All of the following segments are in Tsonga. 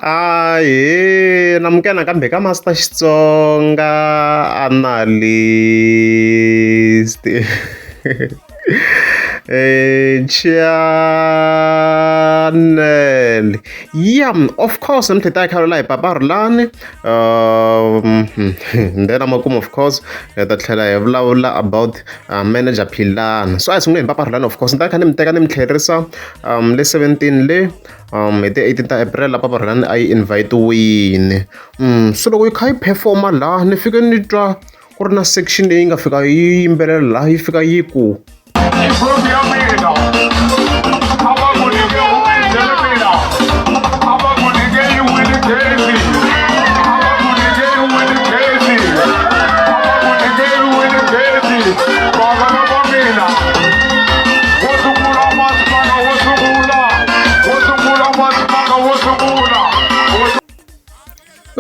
Ahee namukela nakambe ka Master Xitsonga Analyst channel yeah of course ni tlheta khalo la hi papa rulani um then amakumu of course hi ta tlhela hi vulavula about uh, manager philana so a hi sungule hi papa rulani of course ni ta kha ni mi teka ni mi tlherisa um le 17 le um hi ti eighteen ta April la Papa Rhangani a yi invite-wini um se loko yi kha yi perform-a laha ni fike ni twa ku ri na section leyi nga fika yi yimbelela laha yi fika yi ku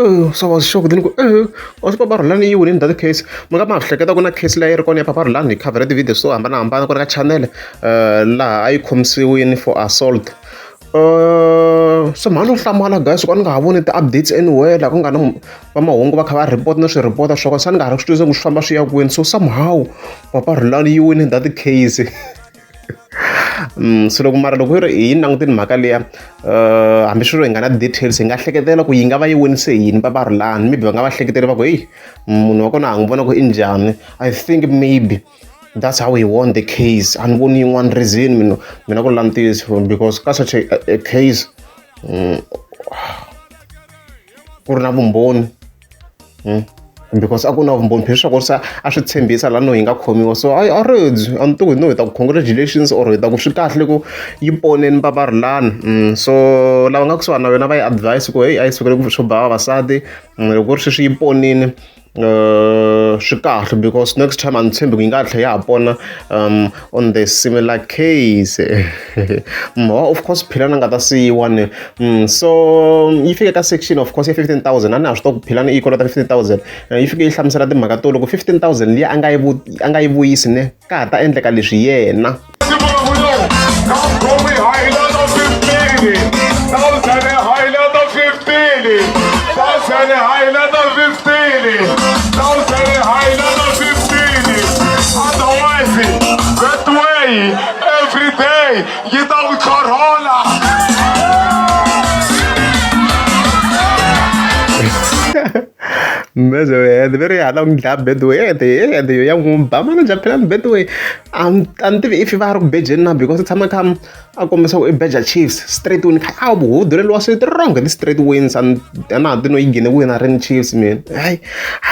Oh, so I was shocked then ku eh wa swi papa Rhulani yi winile that case mi nga ma hleketa ku na case leyi ri kona ya papa Rhulani hi cover ti-video swo hambanahambana ku ri ka channel eh, laha a yi khomisiwile for assault eh, so mhani u hlamala guys ku a ni nga ha voni ti-updates anywhere laha ku nga na va mahungu va kha va report na swi report swa kona se ni nga ha ri swi tivisa ku swi famba swi ya kwini so somehow papa Rhulani yi winile that case Mm, so loko mara loko yi ri hi yi langutini mhaka liya um hambi swi ri hi nga na details hi nga hleketela ku yi nga va yi wonise yini va va ri lani maybe va nga va hleketeli va ku heyi munhu wa kona ha n'wi vona ku i njhani i think maybe that's how he won the case a ni voni yin'wana reason mina mina ku langutiso because ka such a, a case um, ku ri na vumbhoni because a ku na vumbhoni phela leswaku se a swi tshembisa laha no yi nga khomiwa so a a ribyi a ni tiku hi no hi ta ku congratulations or hi ta ku swi kahle ku yi poneni va va ri lani mm, so lava nga kusuhani na wena va yi advise ku heyi a yi sukele ku swo ba vavasati mm, loko ku ri sweswi yi ponini um swi kahle because next time a ni tshembi ku yi nga tlhe ya ha pona um on the similar case mhowa of course philana nga ta siyiwa ni mm, so mm, yi fike ka section of course ya 15000 a ni ha swi to ku philana yi kolota 15000 eh, yi fike yi hlamusela timhaka to loko 15000 leyi a nga yi vuyisi ne ka ha ta endleka leswi yena otherwise that way every day yi ta ku chorhola Mbezo and very hada ku dlaya bedway and and yo ya n'wi ba mana japhela ni bedway a ni a ni tivi if va ri ku bejeni na because u tshama kha a kombisa ku i beja chiefs straight win kha a buhuduleliwa swi wrong hi ti-straight wins a na ha ti no yi nghene win a ri ni chiefs mina hayi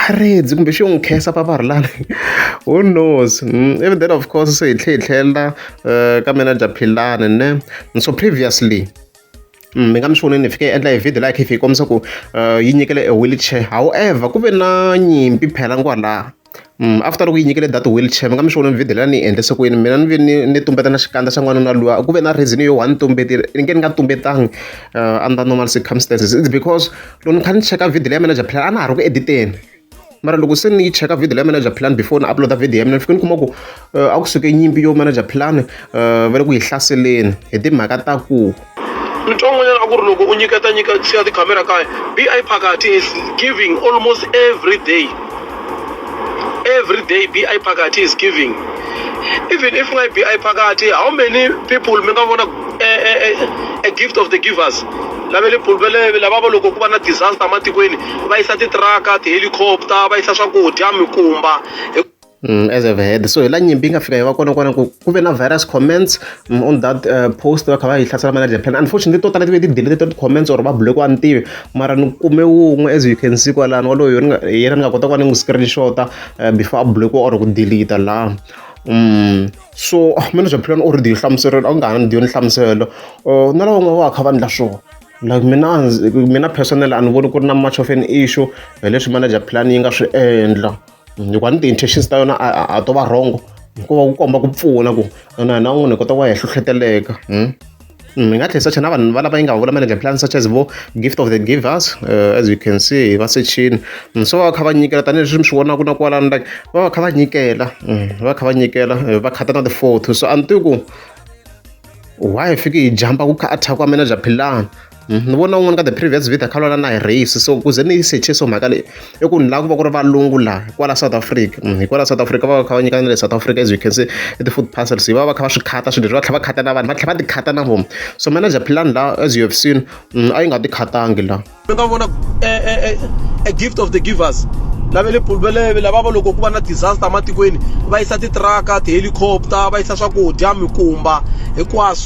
a redzi kumbe xi yo n'wi khesa paparilana who knows hmm, even then of course se hi tlhe hi tlhelela eh, ka mina dya philani ne so previously Mm, mi nga mi swoneni hi fike endla hi video laha khifi hi kombisa ku eh, yi nyikele e wheelchair however ku ve na nyimpi phela kwalaha After loko yi nyikile data wheelchair mi nga mi swi vona ni video leyi a ni yi endlise ku yini mina ni ve ni ni tumbeta na xikandza xa n'wanuna luya ku ve na reason yo one ni tumbetini ni nge ni nga tumbetangi under normal circumstances it's because loko ni kha ni cheka video leyi ya manager plan a na ha ri ku edit-eni mara loko se ni yi cheka video leyi manager plan before ni upload video ya mina ni fike ni kuma ku a ku suke nyimpi yo manager plan va le ku yi hlaseleni hi timhaka ta ku. Ntwan'wanyana a ku ri loko u nyiketa nyika siya tikhamera kaya, be I Phakathi is giving almost every day, every day be I Phakathi is giving even if ku nga ri be I Phakathi how many people mi nga vona a gift of the givers la va le bulubeleni lava va loko ku va na disaster ematikweni va yisa titiraka ti-helicopter va yisa swakudya mikumba. as a head so hi la nyimpi yi nga fika yi va kona kona ku ku ve na virus comments mm, on that uh, post va kha va yi hlasela manager plan unfortunately to tala ti ve ti deleted ti comments or va block wa ni tivi mara ni kume wun'we as you can see kwalani waloyo yena ni nga kota ku va ni n'wi screenshota uh, before a block or ku delete la Mm. so ah, mina bya philani u ri diyo hlamuselelo a ku nga ha ni diyo ni hlamuselo uh, na lava un'we va kha va ndla swona like mina mina personal a ni voni ku ri na much of an issue hi leswi manager plan yi nga swi endla hikuva ni ti-intentions ta yona a to va wrong hikuva ku komba ku pfuna ku na hina un'wana hi kota ku va hi hlohleteleka hmm? Hmm, hi nga tlhela sacha na vanhu va lava yi nga vula manage plan such as vo gift of the givers uh, as you can see va sechini hmm, so va va kha va nyikela tanihileswi mi swi vonaka na kwalani like va va kha va nyikela va kha va nyikela eh, va khata na ti-photo so a ni tivi ku why fike hi jumpa ku kha attack wa manager philani ni vona un'wana ka the previous video kha lwana na hi race so kuze ni yi secheso mhaka leyi i ku ni lava ku va ku ri valungu laha hikwala south africa mm, hikwala south africa va va kha va nyika na le south africa as you can see i ti-food parcels va va kha va swi khata swilo leswi va tlhela va khata na vanhu va tlhela va ti khata na vona so manager plan laha as you have seen mm, a yi nga ti khatangi laha mi nga vona eh, eh, eh, a gift of the givers lava le pulveleve lava va loko ku va na disaster ematikweni va yisa titiraka tihelicopter va yisa swakudya mikumba hinkwaswo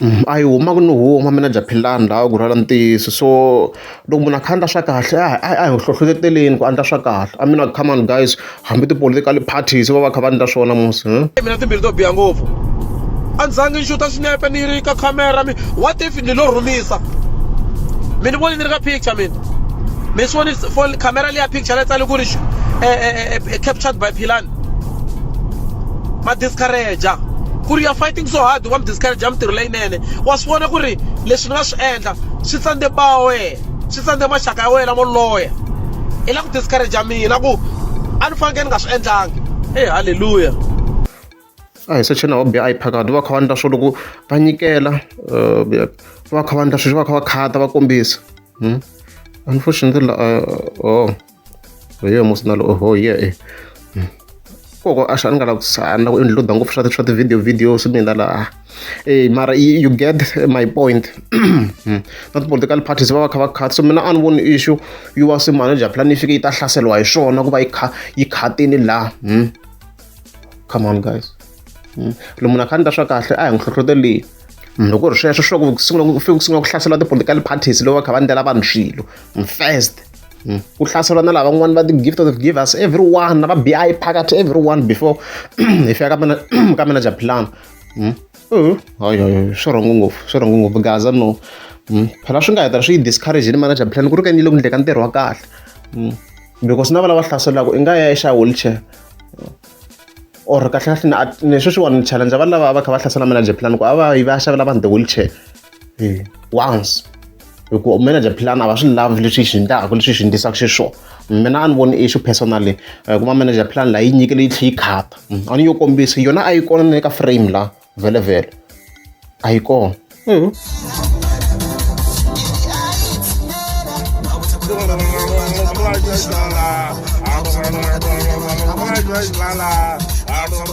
A yi huma ku ni huma mina Japhelani la ku rhwala ntiyiso so loko munhu a kha a endla swa kahle a hi a hi hlohloteleni ku a endla swa kahle I mean come on guys hambi ti-political parties va va kha va endla swona mos mina timbilu to biha ngopfu a ni zangi ni xuta swinepe ni ri ka camera mi what if ni lo rhumisa mi ni voni ni ri ka picture mina mi swi voni phone camera liya picture la tsale ku ri captured by Philani. ma discourager ku ri ya fighting so hard wa mi discourager mintirho leyinene wa swi vona ku ri leswi ni nga swi endla swi tsandze ba wa wena swi tsandze maxaka ya wena lamo loya i la ku discourager mina ku a ni fanekele ni nga swi endlangi e halleluya a hi secheni wa biya a yi phakati va kha va endla swo loko va nyikela eh, va kha va endla sweswi va kha va khata va kombisa hmm? unfortunately uh, oh hi yo emotional oho ye e koko a swi a ni nga lavi ku a ni la ku includa ngopfu swa swa ti-video videos mina laha e mara you get my point hmm. na ti-political parties va va kha va khat so mina a ni voni issue yi wa se manager plan yi fike yi ta hlaseriwa hi swona ku va yi kha yi khatini laha hmm. come on guys hmm. lomu na kha ni ta swa kahle a hi n'wi hlohloteleni loko ri sweswo swa ku sungula ku fike ku sungula ku hlasela ti-political parties lowu va kha va ndlela vanhu swilo first Mm. ku hlaseriwa na lavan'wani va ti-gift of givers everyone na va bi phakathi everyone before hi fika ka mina ka mina japhilana mm. uh-huh. hayi hayi swi rhongo ngopfu swi rhongo ngopfu gaza no mm. phela swi nga heta swi yi discourage ni manager plan ku ri ka ni le ku ndleka ntirho wa kahle because na va lava hlaselaka i nga ya exa wheelchair or kahle kahle ni sweswiwani ni challenge va lava va kha va hlasela manager plan ku a va yi va xavela vanhu ti-wheelchair once hi ku manager plan a va swi lavi leswi swi endlaka leswi swi endlisaka xiswona mina a ni voni issue personally eh, kuma manager plan laha yi nyikele yi tlhe yi khata mm, a ni yo kombisa yona a yi kona na le ka frame la vhele vhele a yi kona